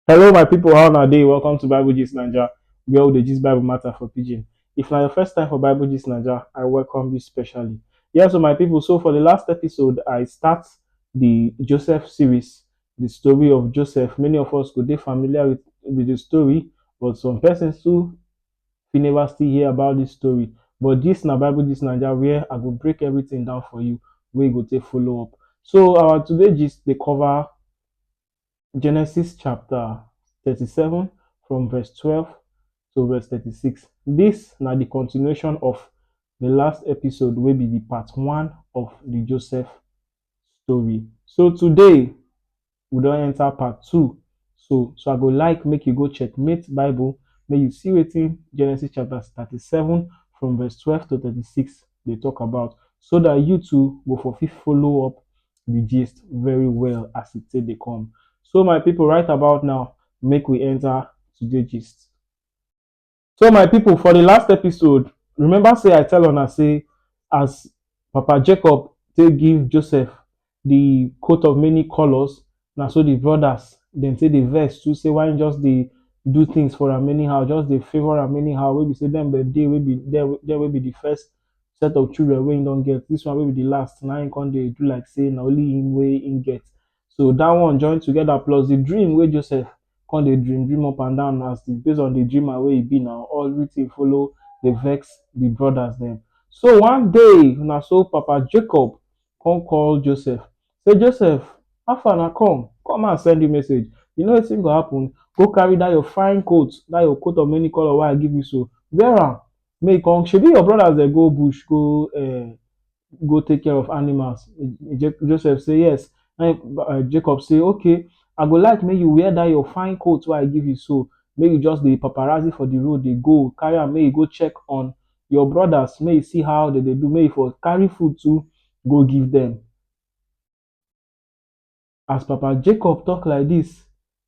Hello, my people. How na dey? Welcome to Bible Gist Naija, where we dey gist Bible matter for pidgin. If na your first time for Bible Gist Naija, I welcome you specially. Yeah, so my people. So for the last episode, I start the Joseph series, the story of Joseph. Many of us could be familiar with, with the story, but some persons too we never still hear about this story. But this na Bible Gist Naija, where I go break everything down for you, where you go take follow up. So our today gist dey cover Genesis chapter 37 from verse 12 to verse 36. This now the continuation of the last episode will be the part one of the Joseph story. So today we don't enter part two. So so I go like make you go checkmate Bible, may you see waiting Genesis chapter 37 from verse 12 to 36. dey talk about so dat you too go for fit follow up de gist very well as e take dey come. So my pipu right about now make we enter today gist. So my pipu for de last episode remember sey I tell una sey as papa Jacob take give Joseph the coat of many colors na so the brothers dem take dey vex too say why him just dey do things for am anyhow just dey favour am anyhow wey be say dem dem dey wey be dem dem wey be the first set of children wey him don get this one wey be the last na him come dey do like say na only him wey him get so that one join together plus the dream wey Joseph come dey dream dream up and down as the based on the dreamer wey he be na everything follow dey vex the brothers dem so one day na so papa Jacob come call Joseph. Say, Joseph, how far na come? Come and send you message. You know wetin go happen? Go carry that your fine coat, that your coat of many color wey I give you so. Wear am. Make you come. Shebi your brothers dey go bush go uh, go take care of animals. Je- Joseph say, yes. And uh, Jacob say, okay, I go like make you wear that your fine coat wey I give you so. Make you just dey paparazzi for the road, dey go. Carry am, make you go check on your brothers make you see how dem dey do make you for carry food too go give dem. As papa Jacob talk like dis,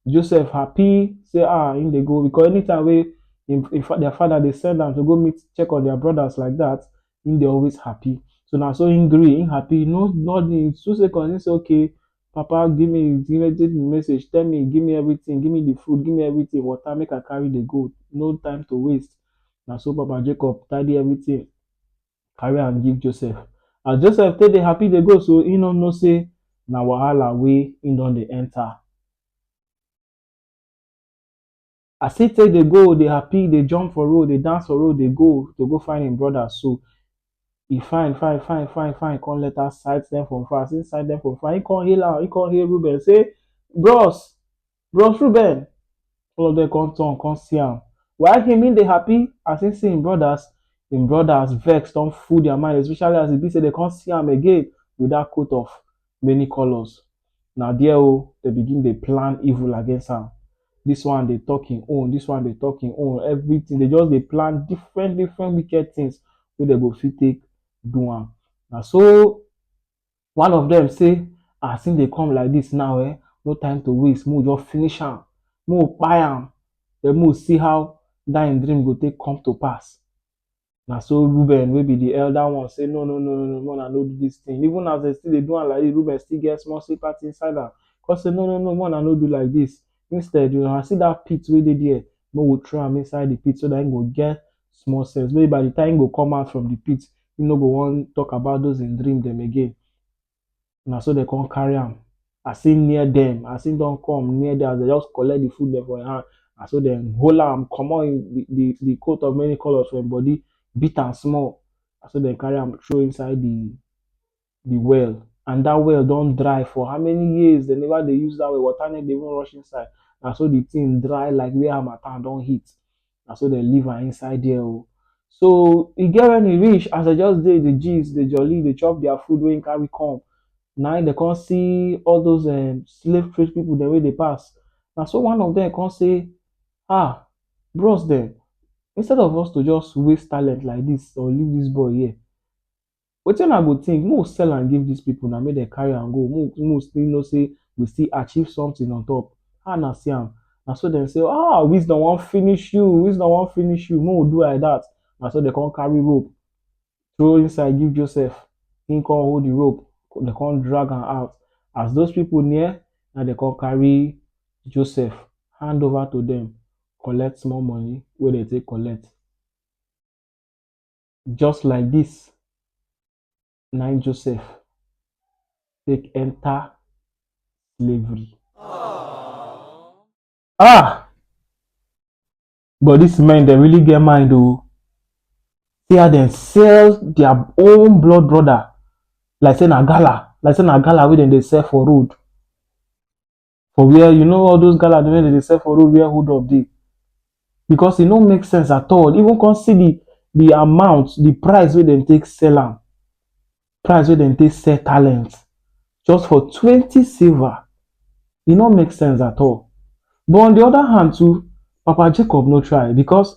Joseph happy sey um im dey go because anytime wey im dia father dey send am to go meet check on dia brothers like dat, im dey always happy. So na so im gree, im happy, im no sey okay Papa give me the message tell me give me everything give me the food give me everything water make I carry dey go no time to waste na so Papa Jacob tidy everything carry am give Joseph as Joseph take dey happy dey go so he no know say na wahala wey he don dey enter. As he take dey go, dey happy, dey jump for road, dey dance for road, dey go to go find him brother so. He find, find, find, find, find, come let her sight them from far. As he sight them from far, he come hail her, he come hail Reuben say, Bros, bros Reuben. All of them come turn, come see am. While him, him dey happy as he see him brothers, him brothers vex don full their mind, especially as e be say they come see am again with that coat of many colors. Na there oh, dey begin dey plan evil against am. Dis one dey talk im own, dis one dey talk im own. Everything, dey just dey plan different different wicked things wey dey go fit take do am. Na so one of dem say, as im dey come like dis now um, no time to waste, make we just finish am, make we kpai am, then make we see how dat im dream go take come to pass. Na so Reuben wey be the elder one say, No, no, no, no, no, make una no do this thing. Even as dem still dey do am like this, Reuben still get small sympathy inside am. Come say, No, no, no, make una no do like this. Instead, you una see that pit wey dey there, make we throw am inside the pit so that he go get small sense. Maybe by the time he go come out from the pit, he no go wan talk about those him dream dem again. na so dem come carry am as he near dem, as he don come near dem as dem just collect de food dem for im hand na so dem hold am commot im de de coat of many colors for im body beat am small na so dem carry am throw inside de de well and dat well don dry for how many years dem never dey use dat well water no dey even rush inside na so de thing dry like where harmattan don heat. na so dem leave am inside there o. So e get when e reach as dem just dey dey gist dey jolly dey chop their food wey e carry come na im dem come see all those um slave trade people dem wey dey pass na so one of dem come say um bros dem instead of us to just waste talent like dis or leave dis boy here Wetin una go think, make we sell am give dis people na, make dem carry am go, make we make we still know sey we still achieve something on top. How una see am? Na so dem say um Wisdom wan finish you, Wisdom wan finish you, make we do like dat. Na so dem come carry rope throw inside give Joseph, im come hold de rope, dem come drag am out. As those people near, na im dem come carry Joseph hand over to dem, collect small money wey dem take collect. just like this na im joseph take enter slavery ah but these men dem really get mind o see how dem sell their own blood brother like say na gala like say na gala wey dem dey sell for road for where you know all those gala wey dem dey sell for road where hold up dey because e no make sense at all even come see the the amount the price wey dem take sell am price wey dem take sell talent just for twenty silver e no make sense at all but on the other hand too papa jacob no try because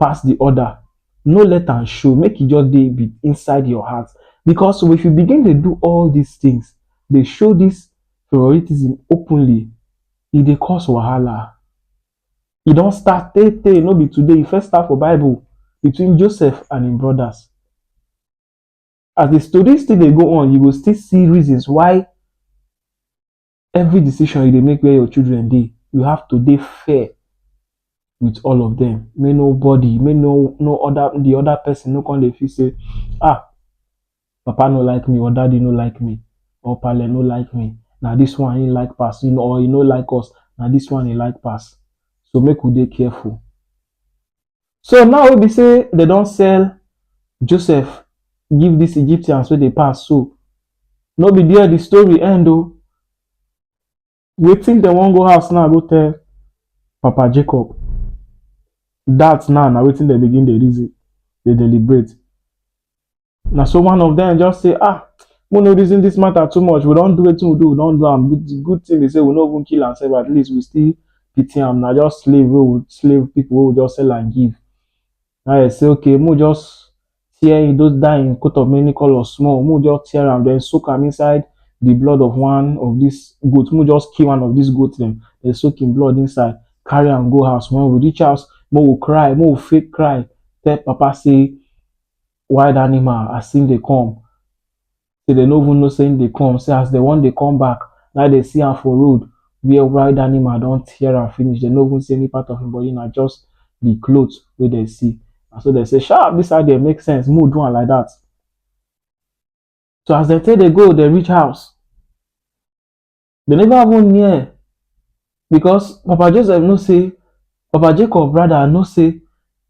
pass the other, no let am show, make e just dey with inside your heart because if you begin dey do all these things, dey show this favoritism openly, e dey cause wahala. E don start tey tey, no be today, e first start for bible between Joseph and im brothers. As the story still dey go on, you go still see reasons why every decision you dey make where your children dey, you have to dey fair with all of dem. Make nobody, make no no other de other person no come dey feel sey um papa no like me or daddy no like me or paale no like me. Na dis one im like pass or e no like us, na dis one e like pass. So make we dey careful. So now wey be sey dem don sell Joseph give dis Egyptians wey dey pass so, no be there de story end oo. Wetin dem wan go house now go tell papa Jacob, dat now na wetin dem begin dey reason, dey deliberate. na so one of them just say ah we no reason this matter too much we don do wetin we do we don do am good the good thing be say we no even kill am sef at least we still pity am na just slave wey we slave people wey we just sell am give na dem say okay make we just tear him those dye him coat of many colours small make we just tear am then soak am inside the blood of one of this goat make we just kill one of this goat dem then soak him blood inside carry am go house when we reach house make we cry make we fake cry tell papa say wild animal as him dey come say dem no even know say him dey come say as dem wan dey come back na him dem see am for road where wild animal don tear am finish dem no even see any part of him body na just the cloth wey dem see na so dem say sha this idea make sense make we do am like that so as dem take dey go dem reach house dem never even near because papa joseph know say papa jacob brother know say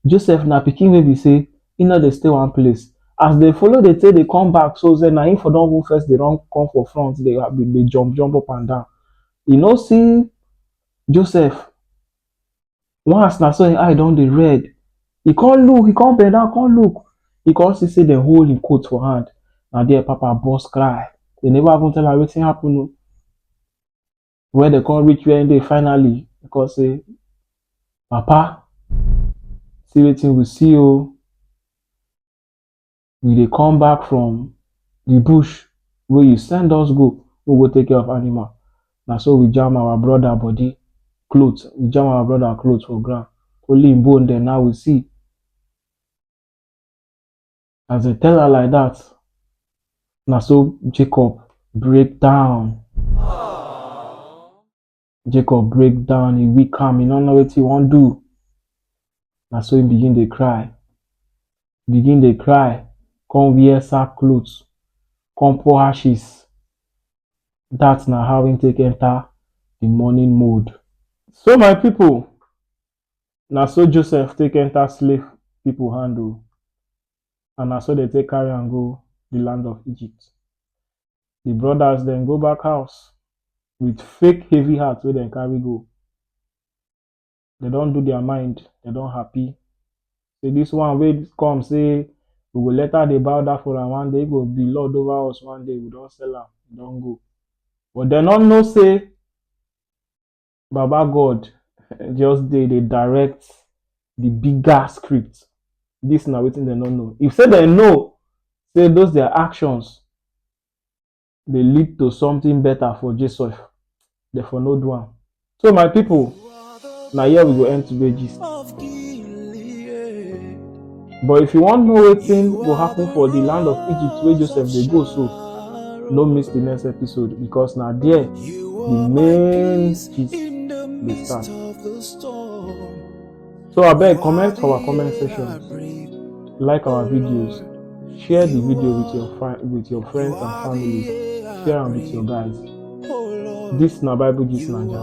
joseph na pikin wey be say he no dey stay one place as dem follow dey take dey come back so say na him for don even first dey run come for front dey dey jump jump up and down he no see joseph Once na so im eye don dey red, e come look, e come bend down come look, e come see sey dem hold im coat for hand. Na there Papa burst cry, dem never even tell am wetin happen o. When dem come reach where im dey finally, e come say, Papa, see wetin we see o. we dey come back from the bush wey you send us go we go take care of animal na so we jam our brother body cloth we jam our brother cloth for ground only him bone dem na we see as dem tell am like that na so Jacob break down Jacob break down, he weak am, he no know wetin he wan do. Na so he begin dey cry, begin dey cry, come wear sackcloth, come pour ashes. That na how he take enter the mourning mode. So my people, na so Joseph take enter slave people hand o, and na so dem take carry am go the land of Egypt. di brodas dem go back house with fake heavy heart wey dem carry go. Dem don do dia mind, dem don happy sey dis one wey come sey we go later dey bow down for am one day, im go be lord over us one day, we don sell am, e don go. But dem no know sey Baba God just dey dey direct the bigger script. This na wetin dem no know. If say dem know say those their actions dey lead to something better for Jesus, dem for no do am. So my people, na here we go end today gist. But if you wan know wetin go happen for the land of Egypt wey Joseph dey go so, no miss the next episode because na there the main gist dey start. So abeg comment for our comment section, like our videos, share the video with your fri with your friends and family, share am with your guys. This na Bible Gist Naija.